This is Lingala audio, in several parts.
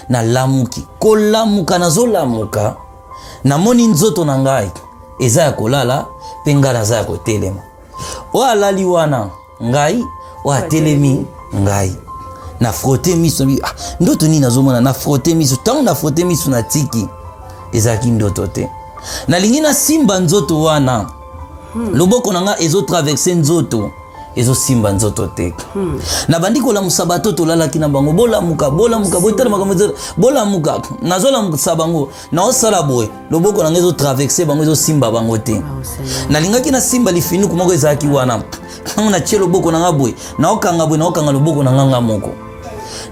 nalamuki kolamuka nazolamuka namoni nzoto na ngai eza ya kolala mpe ngai naza ya kotelema oyo alali wana ngai oyo atelemi ngai na frote miso ah, ndoto nini nazomona na frote miso ntango na frote miso na tiki ezalaki ndoto te nalingi nasimba nzoto wana hmm. loboko na ngai ezotraverse nzoto ezosimba nzoto te hmm. nabandi kolamusa bato tolalaki na bango bolamuka bolamuka boyitala makambo ezo bolamuka nazolamusa bango naosala boye loboko na ngai ezotraverse bango ezosimba bango te ah, nalingaki nasimba lifinuku moko ezalaki wana ntango natie loboko na ngai boye naokanga boye naokanga loboko na ngai ngai moko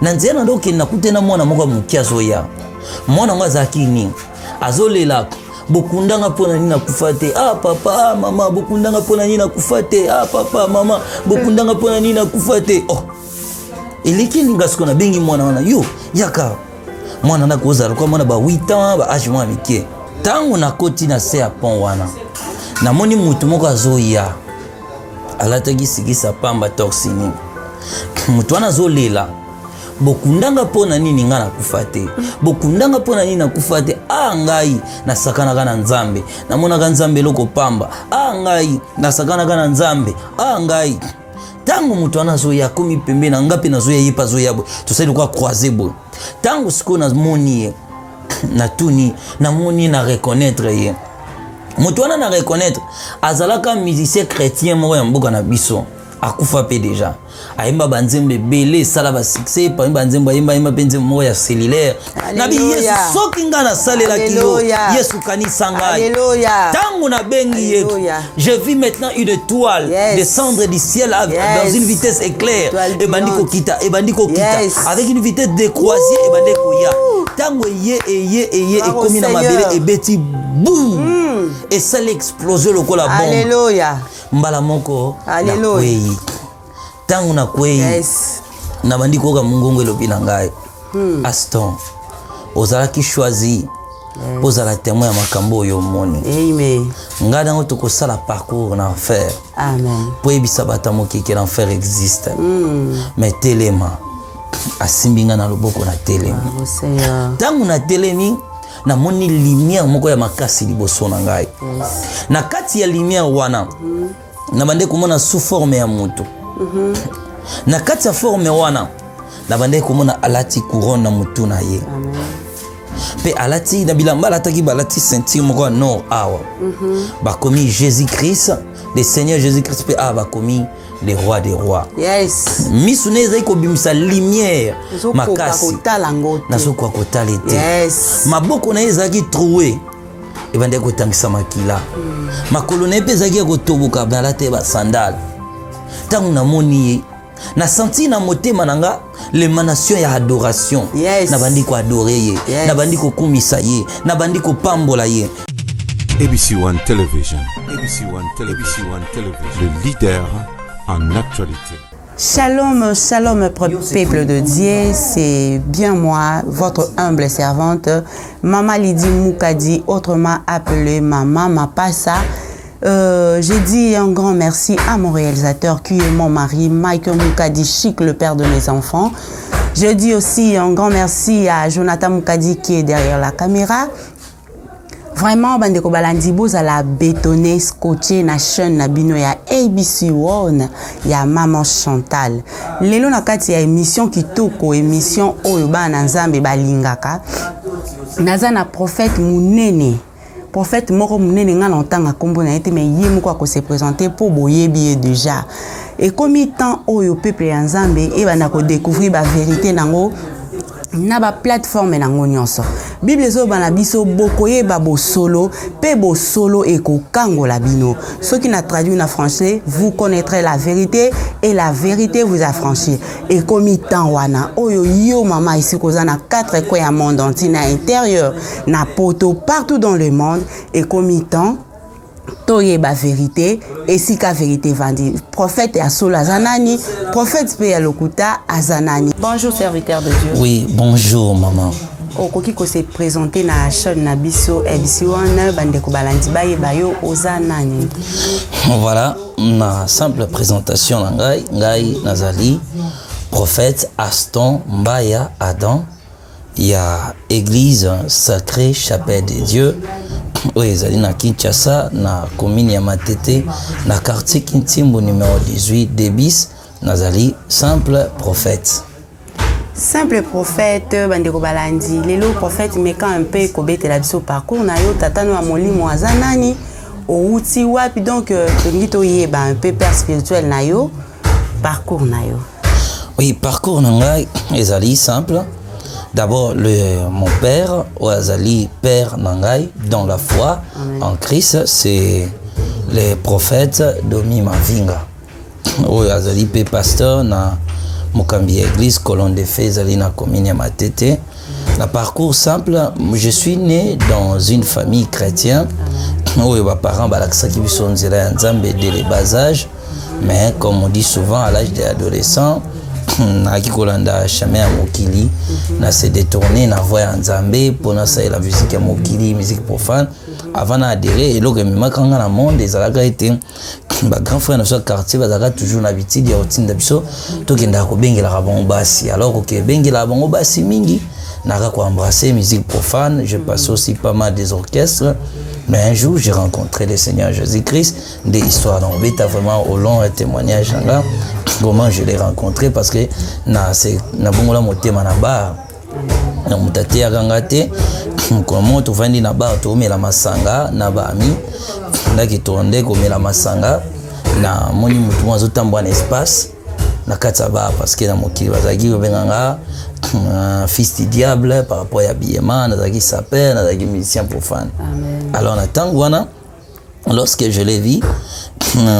na nzela na ndokende nakute na mwana moko ya moke azoya mwana yango azalaki nini azolelaka bokundanga mpo na nini nakufa te ah papa ah mama bokundanga mpo na nini nakufa te ah papa mama bokundanga mpo na nini nakufa te oh eleki elinga siko nabengi mwana wana yo yaka mwana na kozala kwa mwana ba 8 ans ba age mwa mike ntango nakoti na se ya pont wana namoni motu moko azoya alataki sikisa pamba torsini motu wana azolela bokundanga mpo na nini ngai nakufa te bokundanga mpo na nini nakufa te a ah, ngai nasakanaka na nzambe namonaka nzambe eloko pamba a ah, ngai nasakanaka na nzambe a ah, ngai ntango moto wana azoya akomi pembe na ngai mpe nazoya ye mpe azoya boye tosali lokola croise boye ntango sikoyo namoni ye natuni namoni ye na reconnaître ye moto wana na reconnaître azalaka musicien chrétien moko ya mboka na biso akufa mpe deja ayemba banzembo ebele esala basuccès epami banzembo ayemba ayemba mpe nzembo moko ya cellulaire nabi yesu soki ngai nasalelaki yo yesu kanisa ngai ntango nabengi ye je vis maintenant une étoile yes. descendre du ciel yes. dans une vitesse éclair ebandi kokita ebandi kokita yes. avec une vitesse de croisier ebandi koya ntango eye eye eye ekomi na mabele ebeti boum mm. esali explose lokola bombe mbala moko nakwei ntango nakwei yes. nabandi koyoka mongongo elobi na ngai hmm. aston ozalaki choisi mpo ozala témoin ya makambo oyo omoni ngai nango tokosala parcours na enfer mpo oyebisa bato ya mokeke na enfer existe hmm. mais telema asimbi ngai na loboko na telemi ntango ah, na telemi namoni lumière moko ya makasi liboso na ngai mm. na kati ya lumière wana mm. nabandaki komona sous forme ya moto mm -hmm. na kati ya forme wana nabandaki komona alati couronne na motu na ye mpe alati na bilamba alataki balati ceinture moko ya nord awa mm -hmm. bakomi jésus christ le seigneur jésus christ mpe awa bakomi le roi des rois yes. misu na ye ezali kobimisa lumière makasi nazokoka kotala ete yes. maboko na ye ezalaki troue ebandaki kotangisa makila mm. makolo na ye mpe ezalaki ya kotoboka balata ye basandale ntango namoni ye nasanti na motema na nga lemanation ya adoration yes. nabandi koadore ye yes. nabandi kokumisa ye nabandi kopambola ye abc one television abc one television, ABC one television. le leader en actualité Shalom, shalom, peuple de Dieu, c'est bien moi, votre humble servante, Mama Lydie Moukadi, autrement appelée Mama Mapassa. Euh, J'ai dit un grand merci à mon réalisateur qui est mon mari, Michael Mukadi Chic, le père de mes enfants. Je dis aussi un grand merci à Jonathan Mukadi qui est derrière la caméra. Vraiment, bandeko balandi bozala bétonné, scotché na chaîne na bino ya ABC One ya Maman Chantal. Lelo na kati ya émission kitoko, émission oyo bana Nzambe balingaka. Naza na prophète munene. prophète moko munene nga na otanga kombo na ye te mais ye moko ako se présenter po boyebi ye déjà ekomi temps oyo peuple ya nzambe ebanda ko découvrir ba vérité nango na ba plateforme nango nyonso bible ezoloba na biso bokoyeba bosolo mpe bosolo ekokangola bino soki na traduire na français vous connaîtrez la vérité et la vérité vous affranchir ekomi temps wana oyo yo mama esika oza na quatre coin ya monde entier na intérieur na poto partout dans le monde ekomi temps toyeba verite esika verite evandi prophète ya solo aza nani prophète mpe ya lokuta aza nani bonjour serviteur de dieu oui bonjour maman okoki kose présente na chaîne na biso ebc wana bandeko balandi bayeba yo oza nani voilà Na simple presentation na ngai, ngai nazali prophète Aston Mbaya Adam ya église Sacrée Chapelle de Dieu oyo ezali na Kinshasa na commune ya Matete na quartier Kintimbu numéro 18 Debis, nazali simple prophète. Simple prophète, bandeko balandi, lelo prophète meka un peu kobetela biso parcours na yo, tata no ya molimo aza nani, owuti wapi, donc euh, tolingi toyeba un peu père spirituel na yo, parcours na yo. Oui, parcours na ngai ezali simple. D'abord, le, mon père, ou azali père na ngai, dans la foi Amen. en Christ, c'est le prophète Domi Mavinga. oyo azali mpe pasteur na mokambi ya église colon de fe ezali na commune ya matete na parcours simple je suis né dans une famille chrétienne oyo baparent balakisaki biso nzela ya nzambe de le bas âge mais comme on dit souvent à l'âge de l'adolescent nayaki kolanda chemin ya mokili na se détourne na voi ya nzambe mpo nasalela miziki ya mokili miziki profane avant na adere eloko ememaka nga na monde ezalaka ete ba grand frère na biso ya quartier bazalaka toujours na bitidi ya kotinda biso tokendaka kobengelaka bango basi alors kokebengelaka bango basi mingi naka koembrasser musique profane je passe mm. aussi pas mal des orchestres mais un jour j'ai rencontré le seigneur jésus-christ nde histoire na obeta vraiment au long ya témoignage na nga comment je l'ai rencontré parce que na bongola motema na bar na moto ateyaka nga te mokolo moko tofandi na bar toomela masanga na baami ndaki tournde komela masanga na moni motu moko azotambola na espace na kati ya bar parce que na mokili bazalaki kobenga nga euh, fils du diable par rapport ya biyema nazalaki saper nazalaki musicien profane alors na ntango wana lorsque je l'ai vu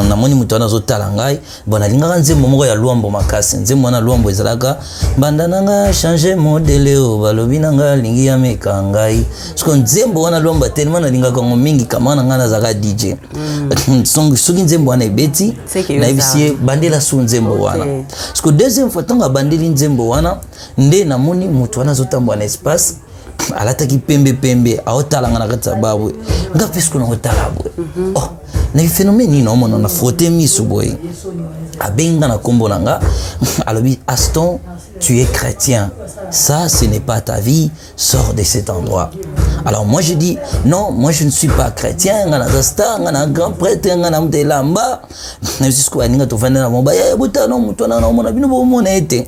namoni moto wana azotala ngai bon nalingaka nzembo moko ya lwambo makasi nzembo wana lwambo ezalaka banda na nga change modele o balobi na nga alingi ya meka ngai soko nzembo wana lwambo ya telema nalingaka yango mingi kama na ngai nazalaka dj mm. soki nzembo wana ebeti nayebisi ye bandela su nzembo wana soko deuxième fois ntango abandeli nzembo wana nde namoni moto wana azotambola na espace alataki pembe pembe aotalanga na kati ya babwe nga mpe siko nakotala boye mhm. oh, na phénomène nini naomona na frotte miso boye abengi nga na nkombo na nga alobi aston tu es chrétien ça ce n'est pas ta vie sors de cet endroit alors moi je dis non moi je ne suis pas chrétien nga naza star nga na grand prêtre nga na moto elamba na yo sisiko baninga tofandi na bango baye botano moto wana naomona bino bomona ye te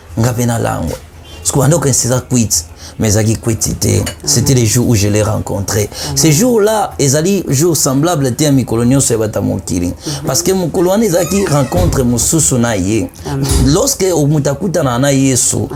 nga pe nalangwa sikoyo ando okanisa eza kwiti mais ezalaki kwiti te c'était le jour où je l'ai rencontré ce jour là ezali jour semblable te ya mikolo nyonso ya bato ya mokili parce que mokolo wana ezalaki rencontre mosusu na ye lorsque moto akutanaka na yesu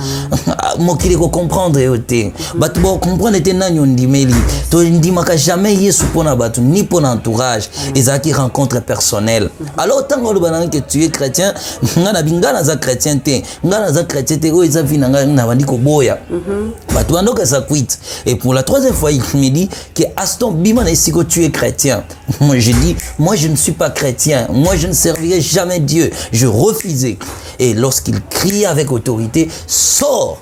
mokili ekocomprendre yo te bato bacomprendre te nani ondimeli tondimaka jamais yesu mpo na bato ni mpo na entourage ezalaki rencontre personnelle alors ntango oloba nanga ke tu es chrétien nga na binga naza chrétien te nga naza chrétien te oyo eza vie na ngai nabandi koboya mhm. bato bandoka eza quite et pour la troisième fois il me dit que aston bima na esiko tu es chrétien moi je dis moi je ne suis pas chrétien moi je ne servirai jamais dieu je refusais et lorsqu'il crie avec autorité sort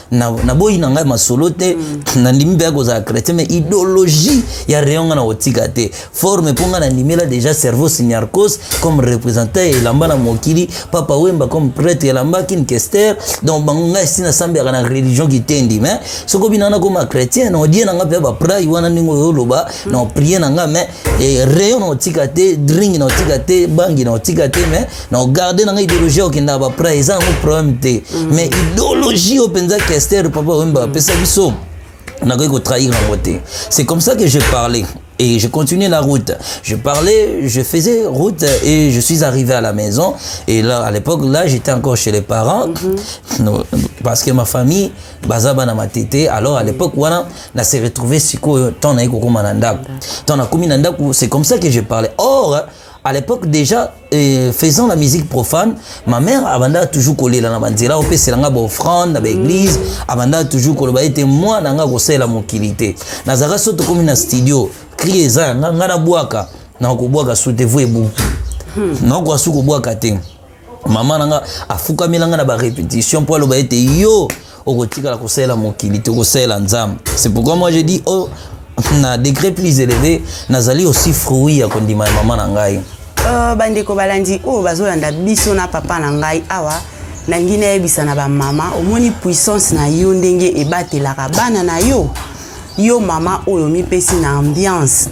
naboyi na ngai masolo te mm. nandimi mpe akozala chrétien mais idéologie ya rayon ngai nakotika te forme mpo ngai nandimela déjà cerveau signarcos comme représentant ya elamba na mokili papa wemba comme prêtre ya elamba kinkester donc bango ngai esi nasambelaka na religion kitendi mais soki obina wana koma chrétien na odie na ngai mpe baprai wana ndenge oyo oloba na oprie na ngai mais eh, rayon na otika te dring na otika te bangi na otika te mais na ogarde na ngai ideologie okendaka baprai eza yango problème te mm. mais ideologie oyo mpenza kester papa oyemba apesa biso nakoki kotrahir yango te c'est comme ça que je parlais et je continuais la route. Je parlais, je faisais route et je suis arrivé à la maison. Et là, à l'époque, là, j'étais encore chez les parents mm -hmm. non, parce que ma famille, Bazaba na matete. Alors à l'époque, voilà, on s'est retrouvé si quoi, tant na eko mananda. Tant na komi nanda, c'est comme ça que je parlais. Or, À l'époque déjà, euh, faisant la musique profane, ma mère abanda toujours kolela na banzela opesela nga baoffrande na baeglise abanda toujours koloba ete mwana nga kosalela mokili te nazalaka so tokomi na studio cri eza yanga nga nabwaka nakobwaka su te vo ebuki nakoka su kobwaka te mama na nga afukamela nga na barépétition mpo aloba ete yo okotikala kosalela mokili te okosalela nzambe c'est pourquoi moi je dis oh, na degré plus élevé nazali aussi fruit ya kondima ya mama na ngai uh, bandeko balandi oyo oh, bazolanda biso na papa na ngai awa ah, nangi nayebisa na bamama omoni puissance na yo ndenge ebatelaka bana na yo yo mama oyo mipesi na ambiance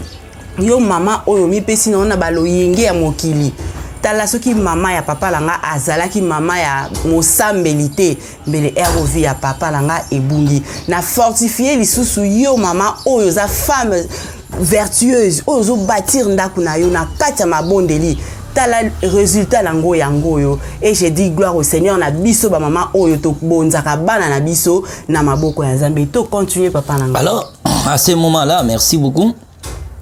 yo mama oyo omipesi nango na baloyenge ya mokili tala soki mama ya papa na nga azalaki mama ya mosambeli te mbele rov ya papa na nga ebungi na fortifie lisusu yo mama oyo oza femme vertueuse oyo ozobatir ndako na yo na kati ya mabondeli tala résultat na yango yango oyo et je dis gloire au seigneur na biso bamama oyo tobonzaka bana na biso na maboko ya nzambe to continue papa na nga alors à ce moment là merci beaucoup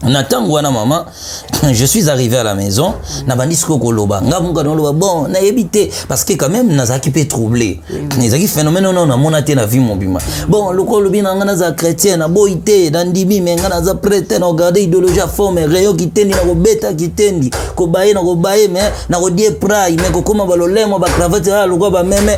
na ntango wana mama je suis arrivé à la maison nabandi sikoyo koloba nga muka noloba bon nayebi te parce que quand même nazalaki mpe troublé ezalaki phénomène wana namona te na vie mobima bon lokola olobi na nga naza chrétien naboyi te nandimi me nga naza prete na kogarde idéologie ya forme rayon kitendi na kobeta kitendi kobaye na kobaye me na kodie prai me kokóma balolemo bacravate aa lokola bameme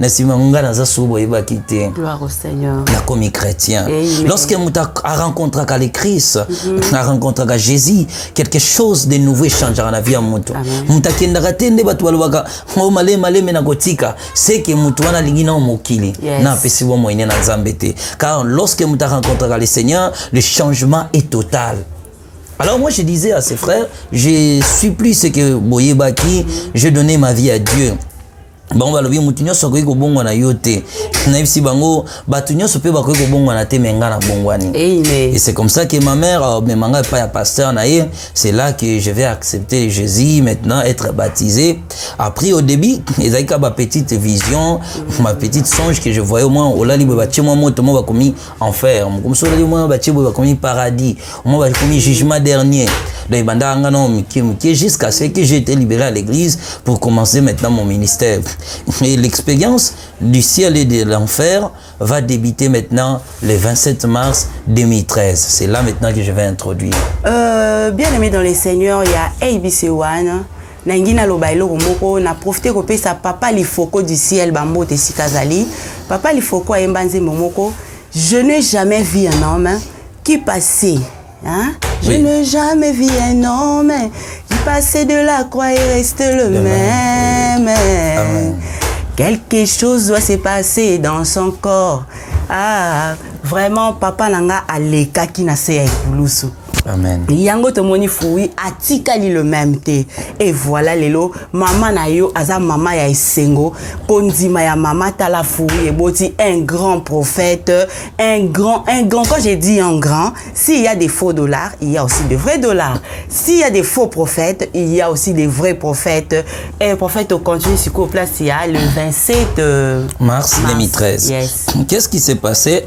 na nsima ngai naza sou boyebaki te nakomi chrétien lorsque moto arencontraka le christ mhm. arencontraka jésus quelque chose de nouveau echangeaka na vie ya moto moto akendaka te nde bato balobaka o oh, malemi malemi nakotika seke moto wana alingi nao mokili na apesi bwa moyene na nzambe te car lorsque moto arencontraka le seigneur le changement est total Alors moi je disais à ses frères, je suis plus ce que Boyebaki, je donnais ma vie à Dieu. bango balobi moto nyonso akoki kobongwana yo te nayebisi bango bato nyonso mpe bakoki kobongwana te me ngai nabongwani et c'est comme ça que ma mère euh, mema ngai epai ya pasteur na ye c'est là que je vais accepter jésus maintenant être baptisé après au début ezalaki ka bapetite vision ma petite songe que je voyais au moins olali boye batie mwa moto mo bakomi enfer mokomisi olaki mwana batie boye bakomi paradis mwa bakomi jugement dernier donc ebandaka nga nao mike mike jusqu'à ce que j'ai été libéré à l'église pour commencer maintenant mon ministère et l'expérience du ciel et de l'enfer va débuter maintenant le 27 mars 2013 c'est là maintenant que je vais introduire euh, bien aimé dans les seigneurs il y a ABC One nalingi naloba eloko moko na profite kopesa papa lifoko du ciel bambote esika azali papa lifoko ayemba nzembo moko je ne jamais vu un homme qui passait hein? je oui. ne jamais vu un homme qui passait de la croix et reste le Demain. même ah, ouais. quelque chose doit se passer dans son corps ah vraiment papa na nga alekaki na se ya ekulusu Amen. yango tomoni fui atikali le même te e voilà lelo mama na yo aza mama ya esengo kondima ya mama tala fui eboti un grand prophète un grand un grand quand j'ai dit un grand s'il y a des faux dollars il y a aussi de vrais dollars s'il y a des faux prophètes il y a aussi des vrais prophètes et prophète au continue sikoyo place ya le 27 euh, mars, mars 2013 yes. qu'est ce qui s'est passé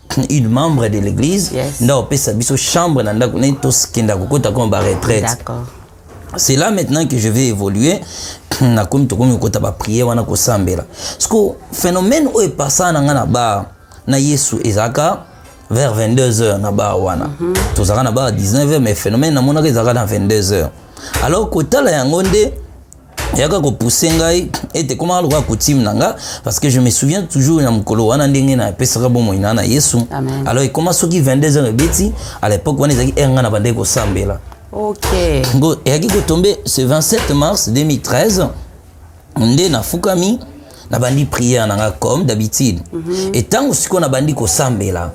une membre de l'église yes. nda opesa biso chambre na ndako naye tokenda kokota koma baretraite c'est là maintenant que je vais évoluer nakomi tokomi kokota bapriere wana kosambela siko phénomène oyo epasana na ngai na bar na yesu ezalaka vers 22 heures na bar wana mm -hmm. tozalaka na bar 19 heures mais phénomène namonaka ezalaka na 22 heures alors kotala yango nde yaka kopousse ngai ete ekomaka lokola coutume na nga parce que je me souviens toujours na mokolo wana ndenge napesaka bomoi na na yesu alors ekoma soki 22 heures ebeti à l'époque wana ezalaki heure ngai na bandaki kosambela okay. eyaki kotombe ce 27 mars 2013 nde nafukami nabandi prière na nga comme d'habitude mm -hmm. etango sikoyo nabandi kosambela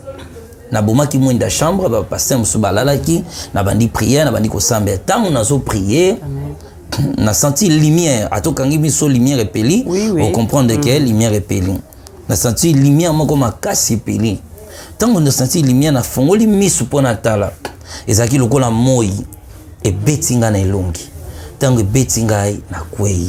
nabomaki mwinda chambre bapaster mosusu balalaki nabandi prière nabandi kosambela ntango nazo prière na senti lumière atokangi biso lumière epeli oui, oui. ocomprendre mm. ke lumière epeli na senti lumière moko makasi epeli ntango na senti lumière nafongoli misu mpo natala ezalaki lokola moi ebeti ngai na elongi ntango ebeti ngai nakwei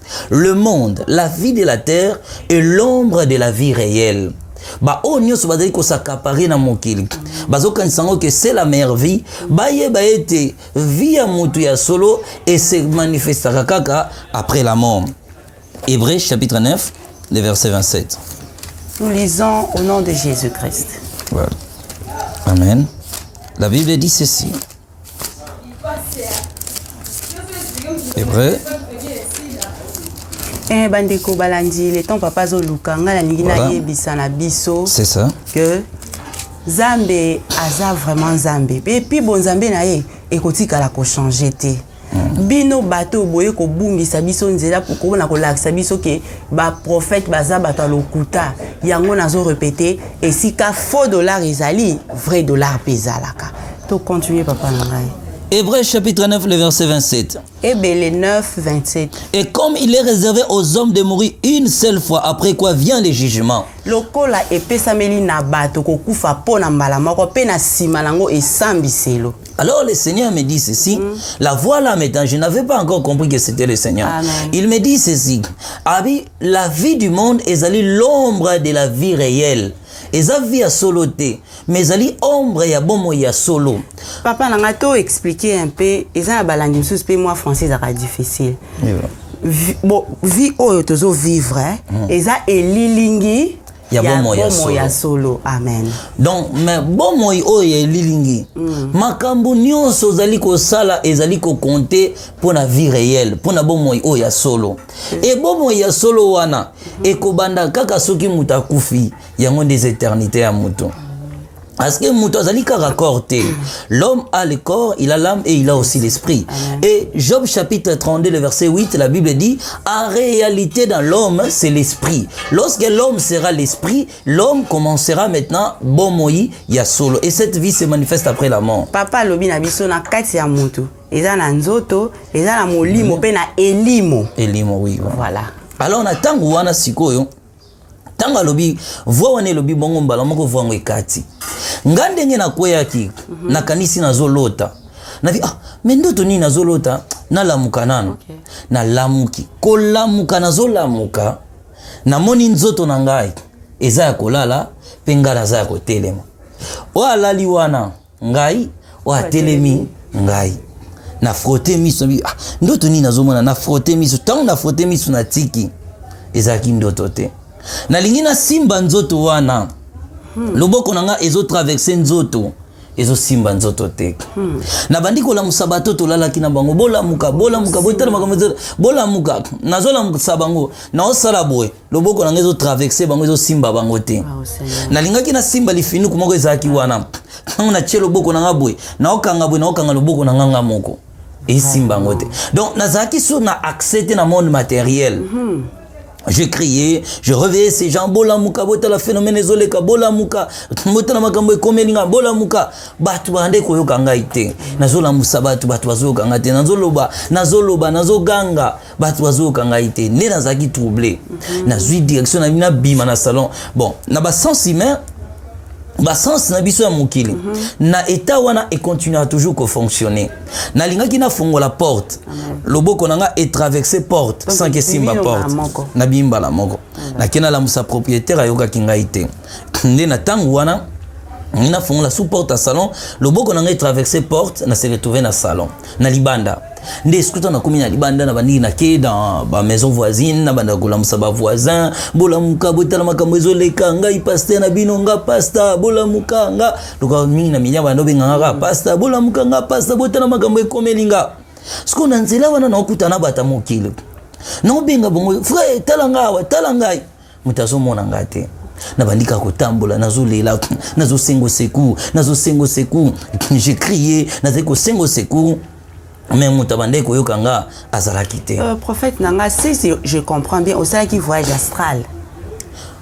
le monde la vie de la terre et l'ombre de la vie réelle baoyo nyonso bazali kosakapare na mokili bazokanisa yango ke se la meilleure vie bayeba ete vie ya moto ya solo ese manifestaka kaka après la mort hébreu chapitre 9 le verset 27 nous lisons au nom de jésus christ voilà. amen la bible dit ceci C'est vrai. Eh, bandeko balandi le temps papa azoluka ngai nalingi voilà. nayebisa na biso c'est ça que nzambe aza vraiment nzambe epuis bonzambe na ye ekotikala kochange te Hmm. bino bato oyo boye kobungisa biso nzela pona kolakisa biso ke baprofete baza bato ya lokuta yango nazo repete esika faux dollar ezali vrai dollar mpe ezalaka tocontinue papa na ngai Hébreu chapitre 9, le verset 27. Hébreu 9, 27. Et comme il est réservé aux hommes de mourir une seule fois, après quoi vient le jugement. lokola epesameli na bato kokufa mpo na mbala moko mpe na nsima na yango esambiselo Alors le Seigneur me dit ceci, mm. la voix là maintenant, je n'avais pas encore compris que c'était le Seigneur. Amen. Il me dit ceci, Abi, la vie du monde est allée l'ombre de la vie réelle. eza vie ya solo te mais ezali ombre ya bomoi ya solo papa na ngai to explike un peu eza na balandi mosusu mpe mwa français ezalaka difficile bon vie oyo tozo vivre eh? mm. eza elilingi ya bomoi ya solo ya solo amen donc mais bomoi oyo ya elilingi mm. makambo nyonso ozali kosala ezali kokonte mpo na vie réelle mpo na bomoi oyo ya solo mm. e bomoi ya solo wana mm. ekobanda kaka soki moto akufi yango nde eza eternité ya moto mm. Parce que moto azali kaka corps te. L'homme a le corps, il a l'âme et il a aussi l'esprit. Et Job chapitre 32, le verset 8, la Bible dit, en réalité dans l'homme, c'est l'esprit. Lorsque l'homme sera l'esprit, l'homme commencera maintenant bon moi ya solo. Et cette vie se manifeste après la mort. Papa lobi na biso na kati ya moto. Eza na nzoto, eza na molimo pe na elimo. Elimo oui. Voilà. Alors na tango wana sikoyo ntango alobi voi wana elobi bongo mbala moko voi yango ekati nga ndenge nakweyaki mhm. nakanisi nazolota navi ah me ndoto nini nazolota nalamuka nano okay. nalamuki kolamuka nazolamuka namoni nzoto na ngai eza ya kolala mpe ngai naza ya kotelema oyo alali wana ngai oyo atelemi ngai na frote miso ah, ndoto nini nazomona na frote miso ntango na frote miso natiki ezalaki ndoto te nalingi nasimba nzoto wana hmm. loboko na ngai ezotraverse nzoto ezosimba nzoto te hmm. nabandi kolamusa bato tolalaki na bango bolamuka bolamuka botala makambo bolamuka nazolamusa bango naosala boye loboko na ngai ezotraverse bango ezosimba bango te ah, nalingaki nasimba lifinuku moko ezalaki wana ntango natye loboko na ngai boye naokanga boye naokanga loboko na ngai ngai moko esimba yango te donc nazalaki sur na accès te na monde matériel mm -hmm. je criais je reveillais ces gens bolamuka botala phénomène ezoleka bolamuka botala makambo ekomeli ngai bolamuka bato bande koyoka ngai te nazolamusa bato bato bazoyoka ngai te nazoloba nazoloba nazoganga bato bazoyoka ngai te nde nazalaki trouble mhm. nazwi direction na bina bima na salon bon na basens humain basense na biso ya mokili mm -hmm. na etat wana econtinuaka toujours kofonctionne nalingaki nafongola porte mm -hmm. loboko na ngai etraverse porte Donc, sans kesimba porte nabimi mbala moko mm -hmm. nakei nalamusa propriétaire ayokaki ngai te nde na ntango wana nafongola sous porte ya salon loboko na ngai etraverse porte na se retrouve na salon na libanda nde esikuta nakomi na libanda na bandiki nake dans bamaison voisine na bandaka kolamusa bavoisin bolamuka botala makambo ezoleka ngai paster na bino nga pasta bolamuka nga loka mingi na milia banda obenganga kaka pasta bolamuka nga pasta botala makambo ekomeli nga sikoyo na nzela wana naokutana bata mokili naobenga bongo frere tala ngai awa tala ngai Moto azomona nga te. nabandi kaka kotambola nazolela nazosengo secour nazosengo secour je crie nazali kosengo secour mais moto abandaki koyoka nga azalaki te euh, prophète na nga si je comprends bien osalaki voyage astral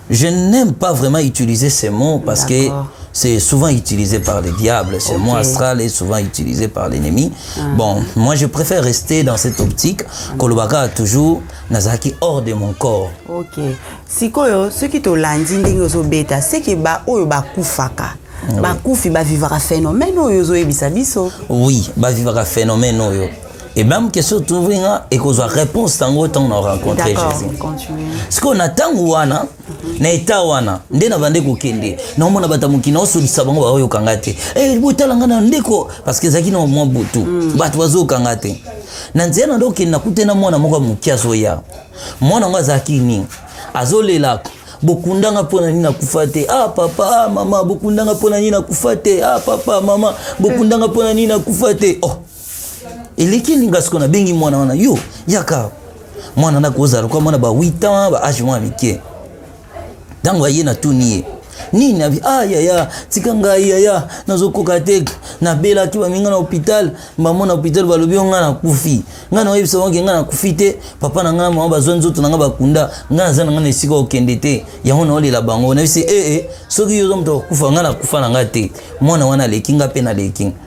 je n'aime pas vraiment utiliser ces mots parce que c'est souvent utilisé par les diables. Ce okay. mot astral est souvent utilisé par l'ennemi. Ah. Bon, moi je préfère rester dans cette optique. Kolobaka a toujours nazalaki hors de mon corps ok sikoyo soki tolandi ndenge ozobeta seke baoyo bakufaka oui. bakufi bavivaka phénomène oyo ozoyebisa biso oui bavivaka phénomène oyo et même question touvri nga ekozwa réponse tango ntango na rencontre jésus sikoyo na ntango wana na eta wana nde nabande kokende naomona bato ya mokili naosolisa bango baoyoka nga te hey, eh, botala nga na ndeko parce que ezalaki na mwa butu mm. bato bazoyoka nga te na nzela na ndokende nakute na mwana moko ya moke azoya mwana yango azalaki nini azolela bokundanga mpo na nini nakufa te ah papa ah mama bokundanga mpo na nini nakufa te ah papa mama bokundanga mpo na nini nakufa te oh eleki elinga sikoyo nabengi mwana wana yo yaka mwana ndako ozala lokola mwana ba 8 ans ba age mwa mike ntango aye natuni ye nini abi ah yaya tika ngai yaya nazokoka te nabelaki baminga na hôpital mama na hôpital balobi yo ngai nakufi ngai naoyebisa bango ke ngai nakufi te papa na ngai na mama bazwa nzoto na ngai bakunda ngai naza na ngai na esika okende te yango naolela bango nayebisi ee eh, eh, soki yo oza moto akokufa ngai nakufa na ngai te mwana wana aleki ngai mpe naleki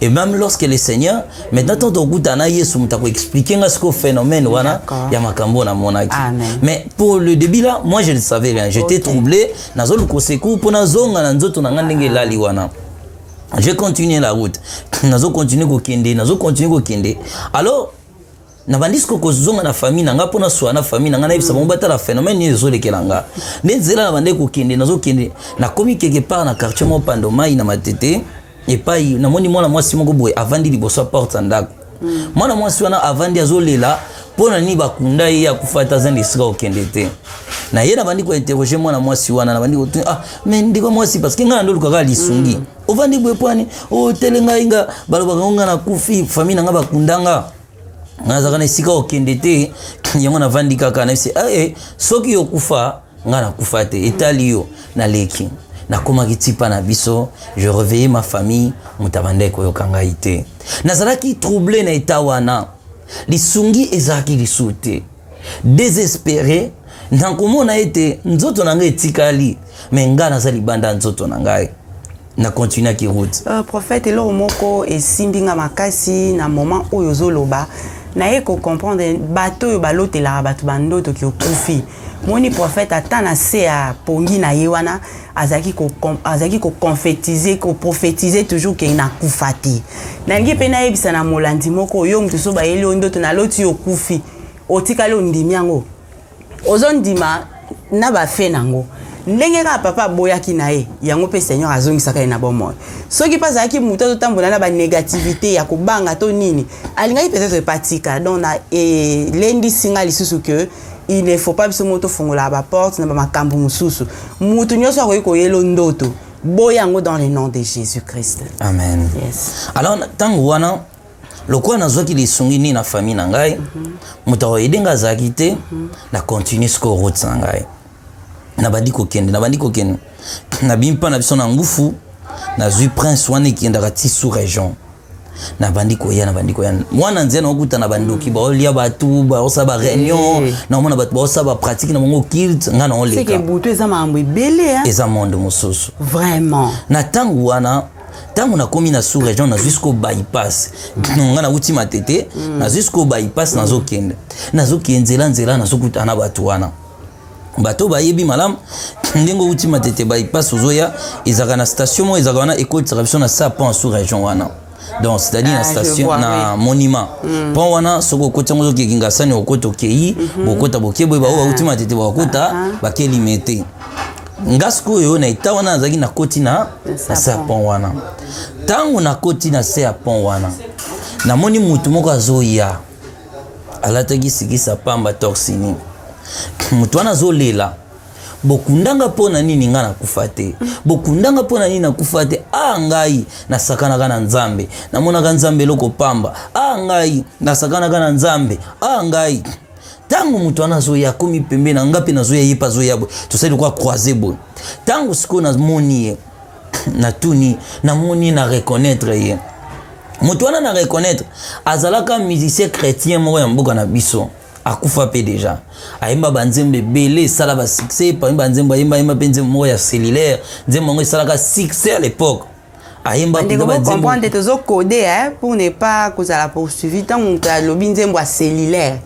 et même lorsque le seigneur maintenant tanto okutana yesu moto akoexplike nga sikoyo phénomène wana ya makambo na monaki mais pour le début là moi je ne savais rien j'étais okay. troublé nazoluka osecour mpo nazonga na nzoto na nga ndenge elali wana je continue la route nazo continue kokende nazo continue kokende alors na bandisi kokozonga na famille na nga mpo na swa na famille na nga nayebisa bango batala phénomène nini ezolekela nga nde nzela na bande kokende nazokende nakomi quelque part na quartier moko pando mai na matete epai namoni mwana mwasi moko boye avandi liboso ya porte ya ndako mm. mwana mwasi wana avandi azolela mpo na nini bakunda ye akufa ata aza na esika kokende te na ye nabandi kointerroge mwana mwasi wana nabandi kotuni ah me ndeko mwasi parce que ngai nandolukaka lisungi mm. ovandi boye pwani otele oh, ngai nga balobaka ngo ngai nakufi famille na ngai bakunda nga nazalaka na esika okende te yango navandi kaka nayebisi ee eh, eh, soki okufa ngai nakufa te etali yo naleki nakomaki tipa na biso je reveille ma famille moto abandaki koyoka ngai te nazalaki trouble na eta wana lisungi ezalaki lisusu te desespere na komona ete nzoto na ngai etikali me ngai naza libanda ya nzoto na ngai na continuaki route uh, prophète eloko moko esimbi nga makasi na moment oyo ozoloba naye kocomprendre bato oyo balotelaka bato bandoto kiokufi moni prophète ata na se ya pongi na ye wana azalaki ko azalaki ko confetiser ko prophétiser toujours ke nakufa te nalingi mpe nayebisa na molandi moko yo moto so bayeli yo ndoto naloti yo okufi otikali ondimi yango ozondima na bafe na yango ndenge kaka papa aboyaki na ye yango mpe seigneur azongisaka ye na bomoi soki mpe azalaki moto azotambola na banégativité ya kobanga to nini alingaki peut-être epatika donc na elendisi ngai lisusu ke il ne faut pas biso moko tofongolaka baporte na bamakambo mosusu moto nyonso akoki koyelo ndoto boya yango dans le nom de jésus christ amen yes. alors ntango wana lokola nazwaki lisungi nini na famille na ngai moto mm -hmm. akoyede ngai azalaki te mm -hmm. na continue sikoyo route na ngai nabandi kokende nabandi kokende nabimi mpa na biso na ngufu nazwi prince wana ekendaka ti sous région nabandi koya nabandi koya mwana nzia nakokutana bandoki mm. baolia bato baosala bareunion eh. naomona bato baosala bapratique na bango kilt ngai naolekabutu eza makambo ebele eza monde mosusu vraiment na ntango wana ntango nakomi na sous région nazwi siko bypass ngai nauti matete mm. nazwi siko bypass nazokende nazokende nzela nzela nazokutana na bato wana bato bayebi malamu ndenge outi matete bypass ozoya ezalaka na station moko ezalaka wana ekotisaka biso na sa pont sous région wana donc c'est-à-dire ah, na station na oui. monument mm. pont wana soki okoti yango ozokeki ngasani okota okei mm -hmm. bokota bokeboye baoyo bauti matete bakota ah, ah. bakeli mete nga sikoyo na eta wana nazalaki nakoti na na se ya pont wana ntango nakoti na se ya pont wana namoni motu moko azoya alataki sikisa pamba torsini moto wana azolela bokundanga mpo na nini ngai nakufa te bokundanga mpo na nini nakufa te a ah, ngai nasakanaka na nzambe namonaka nzambe eloko pamba a ah, ngai nasakanaka na nzambe a ah, ngai ntango moto wana azoya akomi pembe na ngai mpe nazoya ye mpe azoya boye tosali lokwa croise boye ntango sikoyo namoni ye natuni namoni ye na reconnaitre ye moto wana na reconnaitre azalaka musicien chrétien moko ya mboka na biso akufa mpe deja ayemba banzembo ebele esala basuccès epami banzembo ayemba ayemba mpe nzembo moko ya cellulaire nzembo yango esalaka succès à l'époque ayemba ndeko bocomprendre tozokode pour ne pas kozala poursuivi ntango moto alobi nzembo ya cellulaire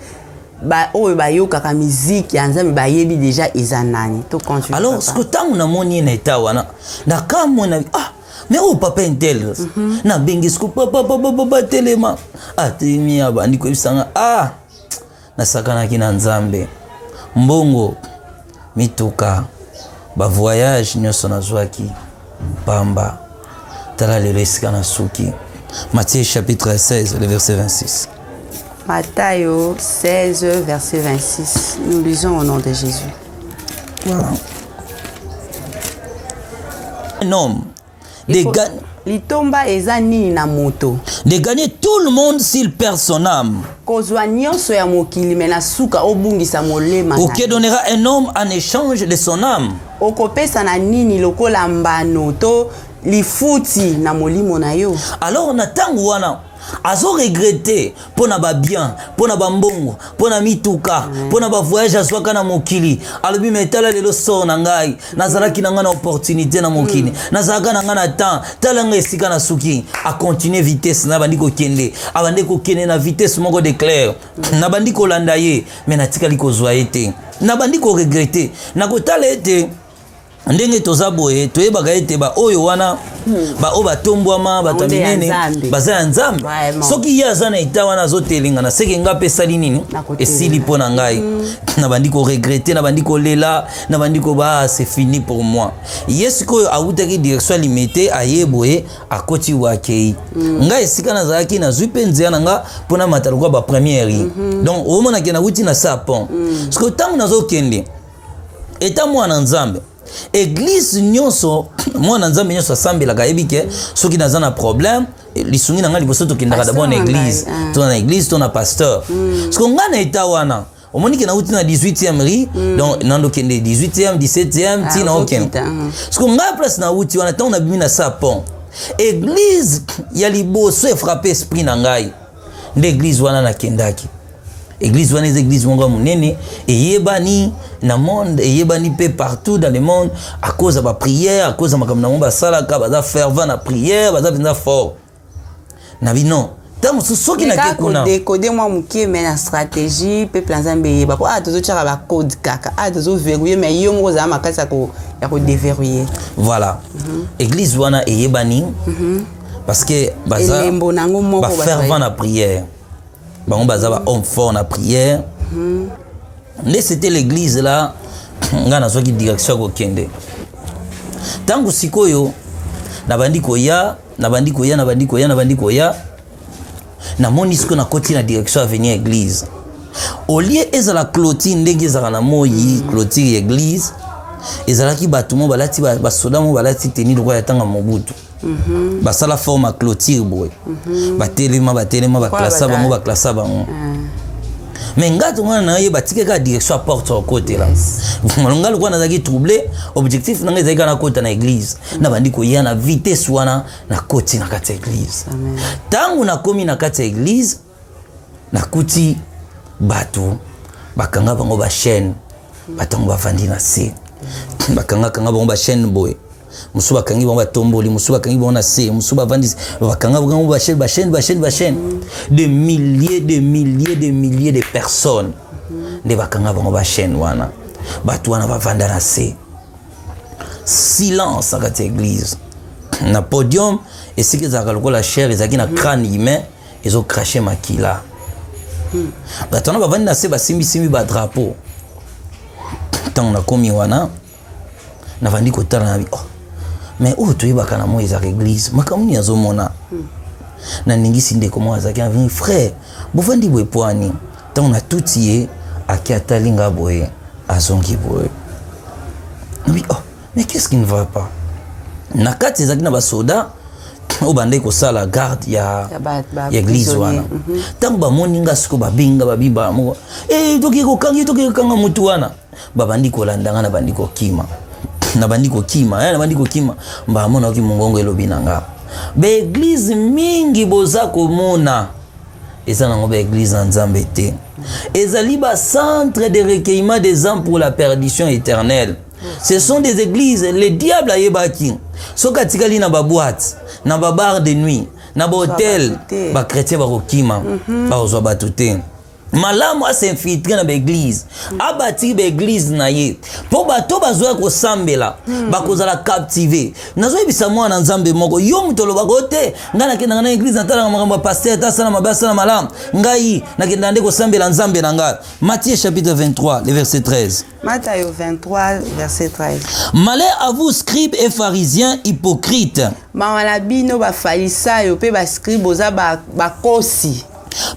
ba oyo bayokaka miziki ya nzambe bayebi deja eza nani to continue alors ce que tango namoni ye na eta wana nakamwe na ah mais oyo oh, papa intel mm -hmm. nabengi siko papa papa papa telema atelemi ah, abandi koyebisanga ah nasakanaki na nzambe mbongo Mituka, ba voyages nionso nazuaki pamba, tala lelo esika nasuki. Matthieu chapitre 16 le verset 26. Matayo 16 verset 26. Nous lisons au nom de Jésus. Wow. Un homme De ga... litomba eza nini na moto de gagner tout le monde s'il perd son âme kozwa nyonso ya mokili me na suka obungisa molema ou que donnera un homme en échange de son âme okopesa na nini lokola mbano to lifuti na molimo na yo alors na ntango wana azo regrete mpo na babien mpo na bambongo mpo na mituka mpo na bavoyage azwaka na mokili alobi me tala lelo sor na ngai nazalaki na ngai na opportunité na mokili mm. nazalaka na ngai na temps tala ngai esika na suki acontinue vitesse na bandi kokende abandi kokende na vitesse moko de claire mm. nabandi kolanda ye me natikali kozwa ye te nabandi koregrete nakotala ete ndenge toza boye toyebaka ete baoyo wana hmm. baoyo batombwama bato ya minene baza ya nzambe soki ye aza na eta wana azotelengana seke ngai mpe esali nini esili mpo na ngai hmm. nabandi koregrete nabandi kolela nabandi koba ah, se fini pour moi ye sikoyo awutaki direction ya limete aye boye akoti wakei hmm. ngai esika nazalaki nazwi mpe nzela na ngai mpo namata lokola bapremiere donc omonake nawuti na sapon sikoyo ntango nazokende eta mwana nzambe eglise nyonso mwana nzambe nyonso asambelaka ayebi ke soki naza na problème lisungi na ngai liboso tokendaka dabord na eglise ah. to na eglise to na pasteur mm. siko ngai na eta wana omoni ke nauti na 18e ri mm. donc nando kende 18e 17e ti na okende siko ngai place nauti wana ntango nabimi na sapon eglise ya liboso efrape esprit na ngai nde eglise wana nakendaki eglise wana eza eglise moko ya monene eyebani na monde eyebani mpe partout dans le monde à cause ya baprière à cause ya makambo na bango basalaka baza fervent na prière baza mpenza fort na bino ta mosusu soki nake kuna kodekode mwa moke me na stratégie mpe plan nzambe eyeba mpo awa tozotyaka bacode kaka awa tozoverrouille me yo moko ozala makasi ya kodeverrouille voilà mm -hmm. église wana eyebani mm -hmm. parce que baza elembo na yango moko ba fervent na prière bango baza ba homme fort na prière hmm. nde c'était l'église là ngai nazwaki direction ya kokende ntango sikoyo nabandi koya nabandi koya nabandi koya nabandi koya namoni sikoyo nakoti na direction avenir église olie ezala clotire ndenge ezalaka na moi clotire ya église ezalaki bato mo balati basoda mo balati teni lokola ya ntango ya mobutu Mhm. basala forme ya clôture boye mhm. batelema batelema baklasa bango baklasa bango mais nga to wana naye batike kaka direction ya porte okotela malonga lokola nazalaki trouble objectif na ngai ezalaki kaka nakota na église mhm. nabandi koya na vitesse wana nakoti na kati ya église ntango nakomi na kati ya église nakuti bato bakanga bango bachaine batango bavandi na se bakangakanga bango bachaine boye mosusu bakangi bango batomboli mosusu bakangi bango na se mosusu bavandisi bakanga bango bachaine bachaine bachaine bachaine de milliers de milliers de milliers de personnes nde bakanga bango bachaine wana bato wana bavanda na se silence na kati ya eglise na podium esika ezalaka lokola chaire ezalaki na crane humain mm -hmm. ezo crache makila hmm. bato wana bavandi na se basimbisimbi badrapo ntango nakomi wana navandi kotala na oh. mais oyo toyebaka na moi ezaka eglise makambo nini azomona hmm. naningisi ndeko moko azalaki aveni frère bovandi boye pwani ntango natuti ye ake atali nga boye azongi boye nabi oh mais qu'est-ce qui ne va pas na kati ezalaki na basoda oyo bandaki kosala garde ya eglise wana mhm. ntango bamoni nga siko babenga babiba moko e toki kokangi toki kokanga motu wana babandi kolanda nga nabandi kokima nabandi kokima eh, nabandi kokima mbala monaki mongongo elobi na nga baeglize mingi boza komona eza nango baeglize ya nzambe te ezali bacentre de recueillement des âmes pour la perdition éternelle ce sont des églises le diable ayebaki soki atikali na baboite na babar de nuit na bahotel bachrétien bakokima mhm. bakozwa bato te malamu asinfiltre na baeglize mhm. abatiki baeglize na ye mpo bato bazoya kosambela mhm. bakozala captive nazoyebisa mwana nzambe moko yo moto olobaka o te ngai nakendaka na eglize natalaka makambo ya paster ta asala mabe asala malamu ngai nakendaka nde kosambela nzambe na ngai matie chapitre 23 le verset 13 Matayo 23, verset 13. Malheur à vous, scribes et pharisiens hypocrites. Mawa na bino bafarisayo mpe bascribe boza bakosi.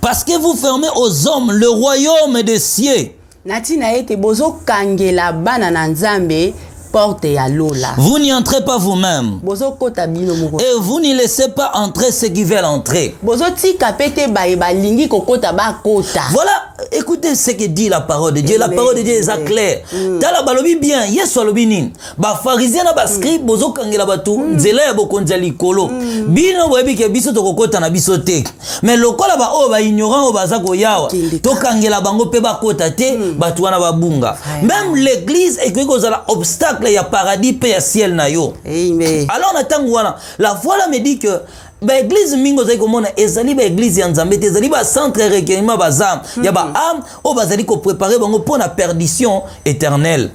Parce que vous fermez aux hommes le royaume des cieux. Na ntina ete bozokangela bana na Nzambe porte ya lola vous n'y entrez pas vous-même bozokota bino moko et vous n'y laissez pas entrer ceux qui veulent entrer bozotika mpe te baye balingi kokota bakota voilà écoutez ce que dit la parole de dieu la parole de dieu eza claire mm. tala balobi bien yesu alobi nini bafarizien na bascribe mm. bozokangela bato mm. nzela ya bokonzi ya likolo bino boyebi ke biso tokokota na biso te me lokola baoyo baignorant oyo baza koyawa tokangela bango mpe bakota te mm. bato wana babunga meme l'église ekoki kozala obstacle ya paradis mpe ya ciel na yo Amen. alors na ntango wana la voilà me dit que baeglize mingi ozali komona ezali baeglize ya nzambe te ezali bacentre ya recueillement baza mm -hmm. ya baame hmm. oyo bazali koprepare bango mpo na perdition éternelle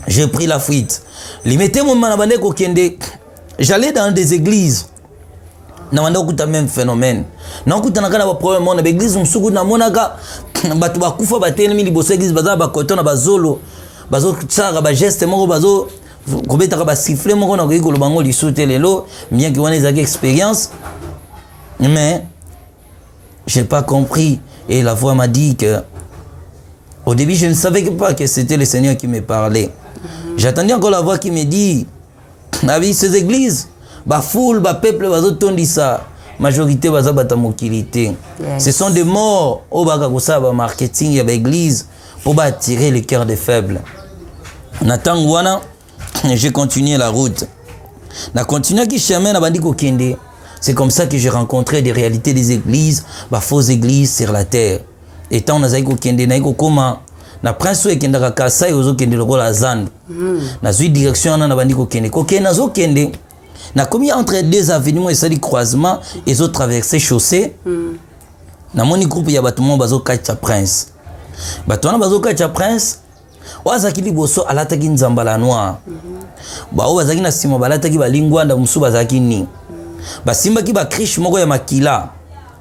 j'ai pris la fuite limete momana bande kokende j'allais dans des églises na banda okuta meme phénomène na okutanaka na baproblème mona baeglise mosusu kutu namonaka bato bakufa batelemi liboso ya eglise baza na bakoto na bazolo bazosalaka bageste moko bazo kobetaka basifle moko nakoki koloba yango lisu te lelo bien ke wana ezalaki expérience mais j'ai pas compris et la voix m'a dit que au début je ne savais pas que c'était le seigneur qui me parlait j'attendais encore la voix qui me dit na ces églises ba foule ba peuple bazotondisa majorité baza bata mokili te yes. ce sont des morts oyo baka kosala ba marketing ya baeglise mpo baattirer le cœur des faibles na ntango wana j'ai continué la route na continuaki chemin nabandi kokende c'est comme ça que j'ai rencontré des réalités des églises ba fausses églises sur la terre Et tant nazali kokende naye kokoma na prince oyo ekendaka kasai ozokende lokola zando mm. nazwi direction wana nabandi kokende kokende nazokende nakomi entre deux avenue moko esali croisement ezotraverse chaussée mm. namoni groupe ya bato moko bazokatya prince bato wana bazokatya prince oyo azalaki liboso alataki nzambala noir baoyo bazalaki na nsima balataki balingwanda mosusu bazalaki nini basimbaki bakriche moko ya makila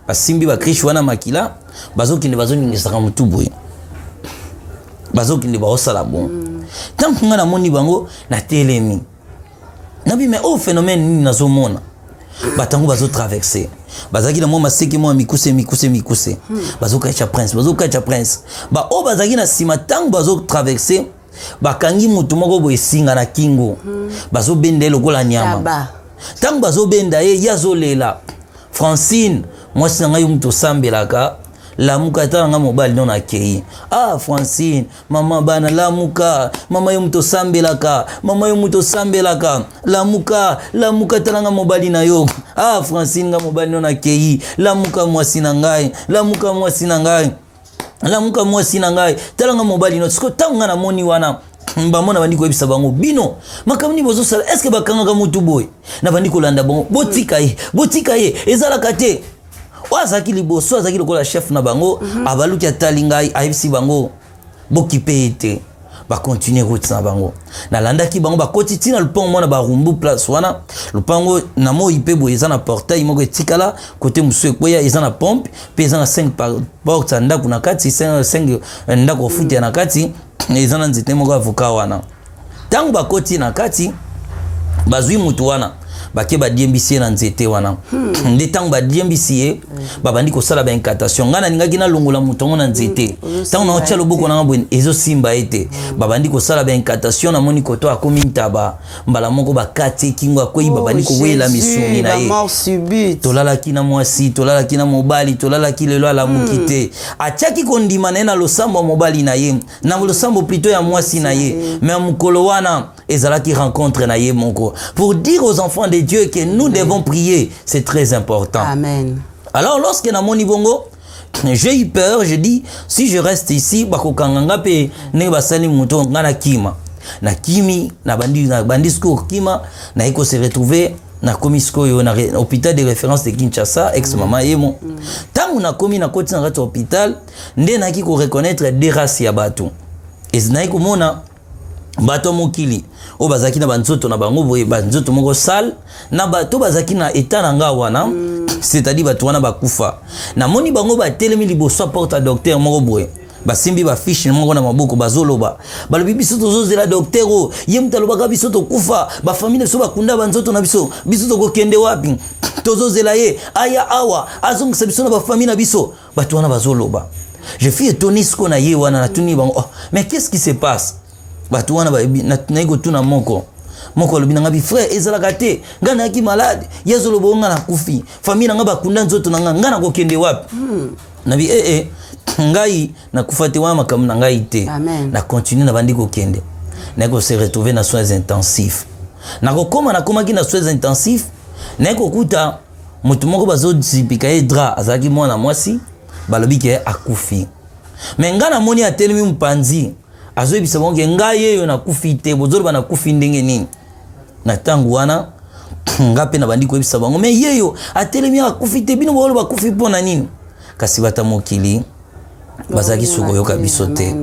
basimbi bakriche wana makila bazokende bazoningisaka motu boye bazokende baosala bongo ntango ngai namoni bango natelemi nabi mais oyo phénomène nini nazomona bato yango bazotraverse bazalaki na mwa maseke mwa mikuse mikuse mikuse hmm. bazokatya prince bazokatya prince baoyo bazalaki na nsima ntango bazotraverse bakangi motu moko boye esinga na kingo hmm. bazobenda ye lokola nyama ntango bazobenda ye ye azolela francine mwasi na ngai yo moto osambelaka lamuka ata na ngai mobali no nakei ah francine mama bana lamuka mama yo moto osambelaka mama yo moto osambelaka lamuka lamuka talanga mobali na yo ah francine nga mobali no nakei lamuka mwasi na ngai lamuka mwasi na ngai lamuka mwasi na ngai talanga mobali no siko ntango ngai namoni wana bango nabandi koyebisa bango bino makambo nini bozosala eske bakangaka motu boye nabandi kolanda bango botika ye botika ye ezalaka te oyo azalaki liboso azalaki lokola chef na bango mm -hmm. abaluki atali ngai ayebisi bango bokipe ye te bakontinue route na bango nalandaki bango bakoti ntina lupango mwana barumbu place wana lupango na moi mpe boye eza na portail moko etikala kote mosusu ekweya eza na pompe mpe eza na 5 porte ya ndako na kati 5 ndako ofutela na kati eza na nzete moko avoka wana Ntango bakoti na kati, bazwi moto wana bake badiembisi ye na nzete wana hmm. nde ntango badiembisi ye hmm. babandi kosala baincantation ngai nalingaki nalongola moto yango na hmm. nzete ntango hmm. naotya loboko nanga boye ezosimba ye te hmm. babandi kosala baincantation namoni koto akomi ntaba mbala moko bakati ekingo akwei oh, babandi kowela misuni na ye tolalaki na mwasi tolalaki na mobali tolalaki lelo alamuki hmm. te atyaki kondima na ye na losambo ya mobali na ye na losambo plutôt ya mwasi na ye mais mokolo wana ezalaki rencontre na ye moko pour dire aux enfants de dieu que nous devons prier c'est très important Amen. alors lorsque namoni bongo j'ai eu peur je dis si je reste ici bakokanga nga mpe ndenge basali moto nga na kima na kimi na bandi, na bandi sikoyo kokima naye ko se retrouver nakomi sikoyo na hôpital de référence de kinshasa ex mama yemo ntango nakomi nakoti na kati ya hôpital nde nayaki ko reconnaitre de race ya bato ezinaki komona bato ya mokili oyo bazalaki na banzoto na bango boye banzoto moko sale na bato bazalaki na etat na ngai wana mm. c'est-à-dire bato wana bakufa namoni bango batelemi liboso ya porte ya docteur moko boye basimbi bafiche moko na maboko bazoloba balobi biso tozozela dokter oyo ye moto alobaka biso tokufa bafamili na biso bakunda banzoto na biso biso tokokende wapi tozozela ye aya awa azongisa biso na bafamili na biso Bato wana bazoloba. Je suis étonné siko na ye wana natuni bango, oh, mais qu'est-ce qui se passe? Bato wana nayi kotuna moko. Moko alobi na ngai, frère, ezalaka te. Ngai nayaki malade, ye azoloba ngai nakufi. Famille na ngai bakunda nzoto na ngai, ngai nakokende wapi? Hmm. Nabi eh eh, ngai nakufa te wana makambo na ngai te. Na continue na bandi kokende. Naye ko se retrouver na soins intensifs. Nakokoma nakomaki na soins intensifs, naye kokuta moto moko bazozipika ye dra azalaki mwana mwasi balobi ke akufi me ngai namoni atelemi mopanzi azoyebisa bango ke ngai yeyo nakufi te bozoloba nakufi ndenge nini na ntango wana nga mpe nabandi koyebisa bango me yeyo atelemi akufi te bino boloba akufi mpo na nini kasi bata mokili bazalaki suka koyoka biso te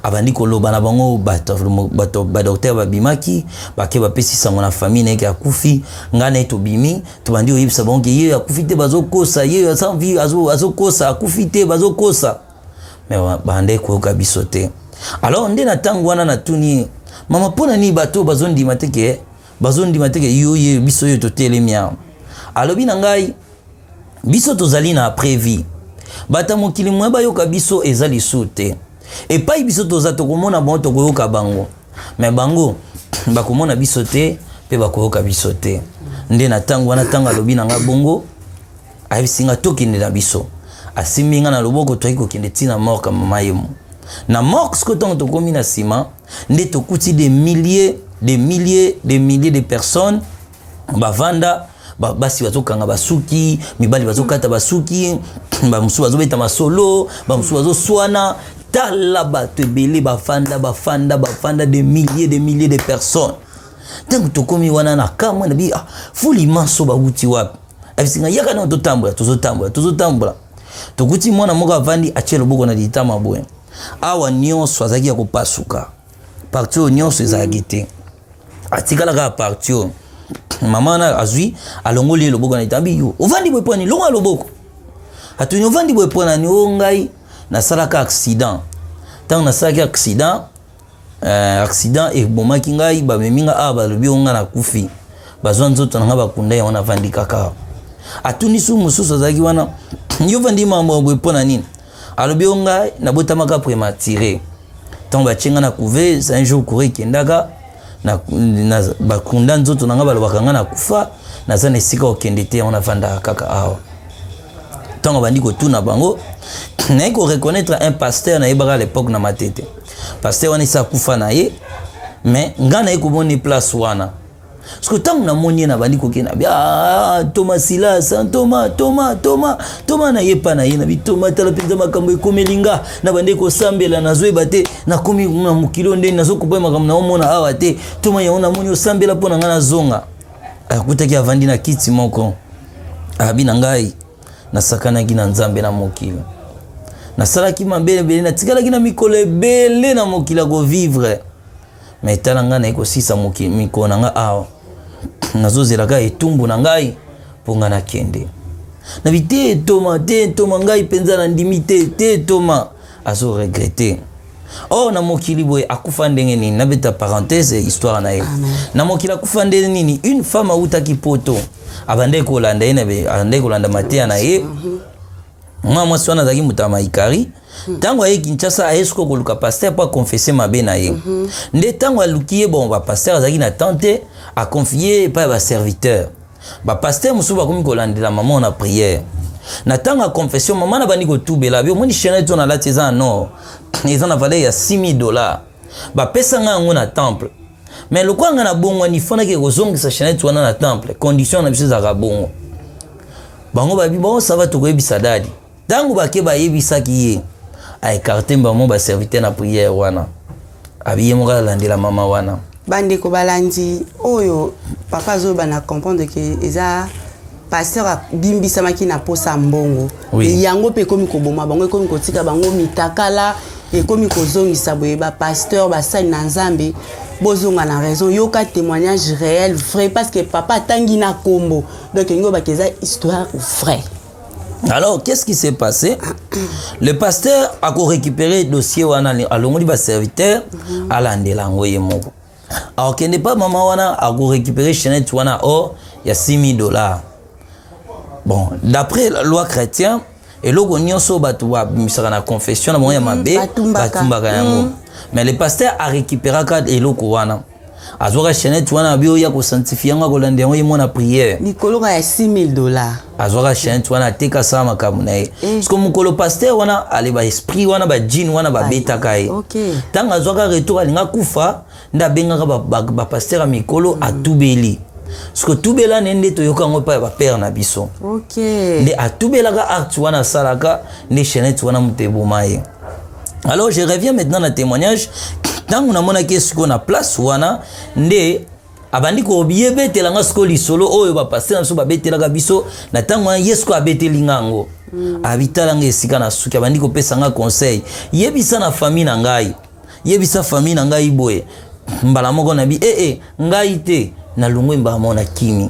abandi koloba na bango bato badoktere babimaki bake bapesi sango na famille na yeke akufi ngai na ye tobimi tobandi koyebisa bango ke yeyo akufi te bazokosa yeyo asanvi azokosa akufi te bazokosa me bandaki koyoka biso te alors nde na ntango wana natuni ye mama mpo na nini bato bazondima te ke bazondima te ke yo ye biso yo totelemi awa alobi na ngai biso tozali na previ bata mokili moye bayoka biso eza lisu te epai biso toza tokomona bango tokoyoka bango me bango bakomona biso te mpe bakoyoka biso te nde na ntango wana ntango alobi na ngai bongo ayebisi ngai tokende na biso asimbi ngai na loboko toyaki kokende ntina morka mama yemo na mork sikoyo ntango tokomi na nsima nde tokuti des milliers des milliers des milliers de personnes bavanda basi bazokanga basuki mibali bazokata basuki bamosusu bazobeta masolo bamosusu bazoswana tala bato ebele bafanda bafanda bafanda de milliers de milliers de personnes ntango tokomi wana na kamwe na bi ah, fuli manso bawuti wapi abisinga yaka nao totambola tozotambola tozotambola tokuti mwana moko avandi atie loboko na litama boye awa nyonso azalaki ya kopasuka parti oyo nyonso ezalaki te atikala kaka parti oyo mama wana azwi alongoli ye loboko na etambi yo ovandi boye mpo nini longola loboko atuni ovandi boye mpo nani o oh, ngai nasalaka accident ntango nasalaki accident Eh, accident ebomaki ngai bamemi nga awa balobi o nga nakufi bazwa nzoto na nga bakunda yango navandi kaka atuni su mosusu azalaki wana yo vandi mambo ya boye mpo na nini alobi o ngai nabotamaka prématuré ntango batye nga na couve un jour coure ekendaka bakunda nzoto na nga balobaka nga nakufa naza na esika okende te yango navandaka kaka awa ntango abandi kotuna bango naye koreconnaitre un pasteur nayebaka à l'époque na matete pasteur wana esi akufa na ye mais ngai naye komoni place wana soki ntango namoni ye nabandi kokenda bi ah, toma silas toma toma toma toma na ye epa na ye na bitoma tala mpenza makambo ekomeli nga nabandi kosambela nazoyeba te nakomi na mokili oyo ndeni nazokopa makambo naomona awa te toma yango namoni osambela mpo na ngai nazonga akutaki avandi na kiti moko abi na ngai nasakanaki na nzambe na mokili nasalaki mabe ebele natikalaki na mikolo ebele na mokili ya kovivre ma etala ngai naye kosisa mikolo na ngai awa nazozela kaka etumbu na ngai mpo ngai nakende na bi te etoma te etoma ngai mpenza nandimi te te etoma azoregrete Oh na mokili boye akufa ndenge nini nabeta parenthèse histoire na ye na mokili akufa ndenge nini une femme awutaki poto abandaki kolanda ye abandaki kolanda mateya na ye mwa mwasi wana azalaki moto ya maikari ntango aye kinshasa aye soko koluka paster mpo akonfese mabe na ye nde ntango aluki ye bon bapaster azalaki na temps te akonfie ye epai ya baserviteur Ba pasteur mosusu bakomi kolandela mama na prière na ntango ya confession mama na bandi kotubela bi omoni chainete oyo nalati eza na nord eza na valeur ya 6000 dollars bapesa ngai yango na temple me lokola ngai nabongwani fondaki kozongisa chainete wana na temple condition na biso ezalaka bongo bango babi baosava tokoyebisa dadi Tango bake bayebisaki ye a ecarte mbamo ba serviteur na prière wana abiye moko alandela mama wana bandeko balandi oyo papa azoyoba na comprendre ke eza pasteur abimbisamaki na posa mbongo oui. yango mpe ekomi koboma bango ekomi kotika bango mitakala ekomi kozongisa boye bapasteur basali na nzambe bozonga na raison yoka témoignage réel vrai parce que papa atangi na kombo donc elingi obaka eza histoire vrai alors qu'est-ce qui s'est passé le pasteur ako récupérer dossier wana alongoli ba serviteur mhm. alandela yango ye moko akokende pa mama wana ako récupérer chainette wana o oh, ya 6000 dollars bon d'après la loi chrétien eloko nyonso bato babimisaka na confession na bango ya mhm. mabe batumbaka yango mhm. mais le pasteur arécupéraka eloko wana azwaka chainette wana abi oya kosanctifie yango akolanda yango ye mwana priere likolo ka ya 6000 dollar azwaka chainette wana ateka asala makambo na ye eh. siko mokolo paster wana ale baesprit wana bajine wana babetaka ye ntango azwaka retour alinga kufa nde abengaka bapaster ya mikolo hmm. atubeli siko tubela ne nde toyoka yango epai ya bapere na biso nde atubelaka acte wana asalaka nde chainette wana moto eboma ye okay. alors je reviens maintenant na témoignage ntango namonaki ye sikoyo na place wana nde abandi koyebetela nga sikoyo lisolo oyo bapaster na biso babetelaka biso na ntango wana ye sikoyo abeteli nga yango mm. abitala nga esika na suki abandi kopesa nga conseil yebisa na famille na ngai yebisa famille na ngai boye mbala moko na bi ee eh, eh, ngai te nalongwe mbala moko na kimi